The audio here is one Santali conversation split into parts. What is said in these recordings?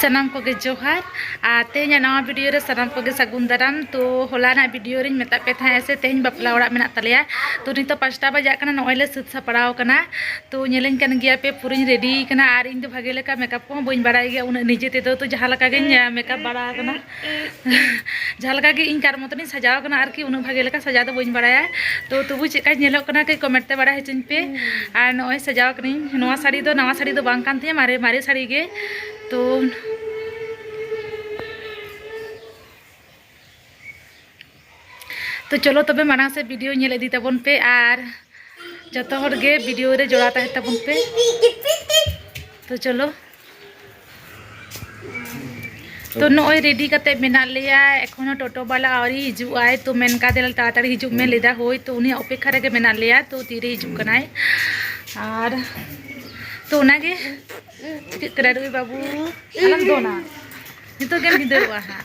ᱥᱟᱱᱟᱢ ᱠᱚᱜᱮ ᱡᱚᱦᱟᱨ ᱟᱨ ᱛᱮᱦᱮᱧᱟᱜ ᱱᱟᱣᱟ ᱵᱷᱤᱰᱤᱭᱳ ᱨᱮ ᱥᱟᱱᱟᱢ ᱠᱚᱜᱮ ᱥᱟᱹᱜᱩᱱ ᱫᱟᱨᱟᱢ ᱛᱚ ᱦᱚᱞᱟᱱᱟᱜ ᱵᱷᱤᱰᱤᱭᱳ ᱨᱤᱧ ᱢᱮᱛᱟᱫ ᱯᱮ ᱛᱟᱦᱮᱸᱫ ᱥᱮ ᱛᱮᱦᱮᱧ ᱵᱟᱯᱞᱟ ᱚᱲᱟᱜ ᱢᱮᱱᱟᱜ ᱛᱟᱞᱮᱭᱟ ᱛᱚ ᱱᱤᱛᱚᱜ ᱯᱟᱸᱪᱴᱟ ᱵᱟᱡᱟᱜ ᱠᱟᱱᱟ ᱱᱚᱜᱼᱚᱭ ᱞᱮ ᱥᱟᱹᱛ ᱥᱟᱯᱲᱟᱣ ᱠᱟᱱᱟ ᱛᱚ ᱧᱮᱞᱤᱧ ᱠᱟᱱ ᱜᱮᱭᱟ ᱯᱮ ᱯᱩᱨᱟᱹᱧ ᱨᱮᱰᱤ ᱠᱟᱱᱟ ᱟᱨ ᱤᱧ ᱫᱚ ᱵᱷᱟᱜᱮ ᱞᱮᱠᱟ ᱢᱮᱠᱟᱯ ᱠᱚᱦᱚᱸ ᱵᱟᱹᱧ ᱵᱟᱲᱟᱭ ᱜᱮᱭᱟ ᱩᱱᱟᱹᱜ ᱱᱤᱡᱮ ᱛᱮᱫᱚ ᱛᱚ ᱡᱟᱦᱟᱸ ᱞᱮᱠᱟ ᱜᱤᱧ ᱢᱮᱠᱟᱯ ᱵᱟᱲᱟ ᱠᱟᱱᱟ ᱡᱟᱦᱟᱸ ᱞᱮᱠᱟ ᱜᱮ ᱤᱧ ᱠᱟᱨ ᱢᱚᱛᱚᱱᱤᱧ ᱥᱟᱡᱟᱣ ᱠᱟᱱᱟ ᱟᱨᱠᱤ ᱩᱱᱟᱹᱜ ᱵᱷᱟᱜᱮ ᱞᱮᱠᱟ ᱥᱟᱡᱟᱣ ᱫᱚ ᱵᱟᱹᱧ ᱵᱟᱲᱟᱭᱟ ᱛᱚ ᱛᱚᱵᱩ ᱪᱮᱫ ᱞᱮᱠᱟᱧ ᱧᱮᱞᱚᱜ ᱠᱟᱱᱟ ᱠᱟᱹᱡ ᱠᱚᱢᱮᱱᱴ ᱛᱮ ᱵᱟᱲᱟᱭ ᱦᱚᱪᱚᱧ ᱯᱮ ᱟᱨ ᱱᱚᱜᱼᱚᱭ ᱥᱟᱡᱟᱣ ᱠᱟᱹᱱᱟᱹᱧ ᱱᱚᱣᱟ ᱥᱟᱹᱲᱤ ᱫᱚ ᱱᱟᱣᱟ ᱥᱟᱹᱲᱤ ᱫᱚ ᱵᱟᱝ ᱠᱟᱱ ᱛᱤᱧᱟ ᱢᱟᱨᱮ ᱢᱟᱨᱮ ᱥᱟᱹᱲᱤ ᱜᱮ ᱛᱚ ᱛᱚ ᱪᱚᱞᱚ ᱛᱚᱵᱮ ᱢᱟᱲᱟᱝ ᱥᱮ ᱵᱷᱤᱰᱤᱭᱳ ᱧᱮᱞ ᱤᱫᱤ ᱛᱟᱵᱚᱱ ᱯᱮ ᱟᱨ ᱡᱚᱛᱚ ᱦᱚᱲ ᱜᱮ ᱵᱷᱤᱰᱤᱭᱳ ᱨᱮ ᱡᱚᱲᱟᱣ ᱛᱟᱦᱮᱸ ᱛᱟᱵᱚᱱ ᱯᱮ ᱛᱚ ᱪᱚᱞᱚ ᱛᱚ ᱱᱚᱜᱼᱚᱭ ᱨᱮᱰᱤ ᱠᱟᱛᱮ ᱢᱮᱱᱟᱜ ᱞᱮᱭᱟ ᱮᱠᱷᱚᱱᱳ ᱴᱳᱴᱳ ᱵᱟᱞᱟ ᱟᱹᱣᱨᱤ ᱦᱤᱡᱩᱜ ᱟᱭ ᱛᱚ ᱢᱮᱱ ᱠᱟᱫᱮ ᱛᱟᱲᱟᱛᱟᱲᱤ ᱦᱤᱡᱩᱜ ᱢᱮ ᱞᱮᱫᱟ ᱦᱳᱭ ᱛᱚ ᱩᱱᱤ ᱚᱯᱮᱠᱷᱟ ᱨᱮᱜᱮ ᱢᱮᱱᱟᱜ ᱞᱮᱭᱟ ᱛᱚ ᱛᱤᱨᱮ ᱦᱤᱡᱩᱜ ᱠᱟᱱᱟᱭ ᱟᱨ ᱛᱚ ᱚᱱᱟᱜᱮ ᱪᱤᱠᱟᱹᱜ ᱠᱟᱱᱟ ᱨᱩᱭ ᱵᱟᱹᱵᱩ ᱟᱞᱚᱢ ᱫᱚᱱᱟ ᱱᱤᱛᱚᱜ ᱜᱮᱢ ᱵᱷᱤᱸᱫᱟᱹᱲᱚᱜᱼᱟ ᱦᱟᱸᱜ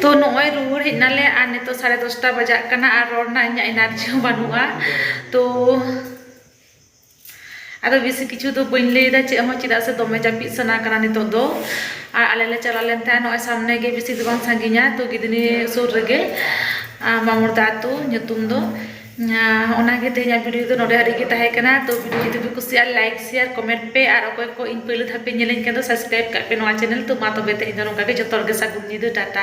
ᱛᱚ ᱱᱚᱜᱼᱚᱭ ᱨᱩᱣᱟᱹᱲ ᱦᱮᱡ ᱱᱟᱞᱮ ᱟᱨ ᱱᱤᱛᱚᱜ ᱥᱟᱲᱮ ᱫᱚᱥᱴᱟ ᱵᱟᱡᱟᱜ ᱠᱟᱱᱟ ᱟᱨ ᱨᱚᱲ ᱨᱮᱱᱟᱜ ᱤᱧᱟᱹᱜ ᱮᱱᱟᱨᱡᱤ ᱦᱚᱸ ᱵᱟᱹᱱᱩᱜᱼᱟ ᱛᱚ ᱟᱫᱚ ᱵᱮᱥᱤ ᱠᱤᱪᱷᱩ ᱫᱚ ᱵᱟᱹᱧ ᱞᱟᱹᱭᱫᱟ ᱪᱮᱫ ᱦᱚᱸ ᱪᱮᱫᱟᱜ ᱥᱮ ᱫᱚᱢᱮ ᱡᱟᱹᱯᱤᱫ ᱥᱟᱱᱟ ᱠᱟᱱᱟ ᱱᱤᱛᱚᱜ ᱫᱚ ᱟᱨ ᱟᱞᱮ ᱞᱮ ᱪᱟᱞᱟᱣ ᱞᱮᱱ ᱛᱟᱦᱮᱸᱫ ᱱᱚᱜᱼᱚᱭ ᱥᱟᱢᱱᱮ ᱜᱮ ᱵᱮᱥᱤ ᱫᱚ ᱵᱟᱝ ᱥᱟᱺᱜᱤᱧᱟ ᱛᱚ ᱜᱤᱫᱷᱱᱤ ᱥᱩᱨ ᱨᱮᱜᱮ ᱢᱟᱢᱚᱲ ᱫᱟ ᱟᱹᱛᱩ ᱧᱩᱛᱩᱢ ᱫᱚ ᱚᱱᱟᱜᱮ ᱛᱮᱦᱮᱧᱟᱜ ᱵᱷᱤᱰᱤᱭᱳ ᱫᱚ ᱱᱚᱰᱮ ᱦᱟᱹᱨᱤᱡ ᱜᱮ ᱛᱟᱦᱮᱸ ᱠᱟᱱᱟ ᱛᱚ ᱵᱷᱤᱰᱤᱭᱳ ᱡᱩᱫᱤ ᱯᱮ ᱠᱩᱥᱤᱭᱟᱜᱼᱟ ᱞᱟᱭᱤᱠ ᱥᱮᱭᱟᱨ ᱠᱚᱢᱮᱱᱴ ᱯᱮ ᱟᱨ ᱚᱠᱚᱭ ᱠᱚ ᱤᱧ ᱯᱳᱭᱞᱳ ᱫᱷᱟᱣ ᱯᱮ ᱧᱮᱞᱤᱧ ᱠᱟᱱ ᱫᱚ ᱥᱟᱵᱥᱠᱨᱟᱭᱤᱵᱽ ᱠᱟᱜ ᱯᱮ ᱱᱚᱣᱟ ᱪᱮᱱᱮᱞ ᱛᱚ ᱢᱟ ᱛᱚᱵᱮ ᱛᱮᱦᱮᱧ ᱫᱚ ᱱᱚᱝᱠᱟ ᱜᱮ ᱡᱚᱛᱚ ᱦᱚᱲ ᱜᱮ ᱥᱟᱹᱜᱩᱱ ᱧᱤᱫᱟᱹ ᱴᱟᱴᱟ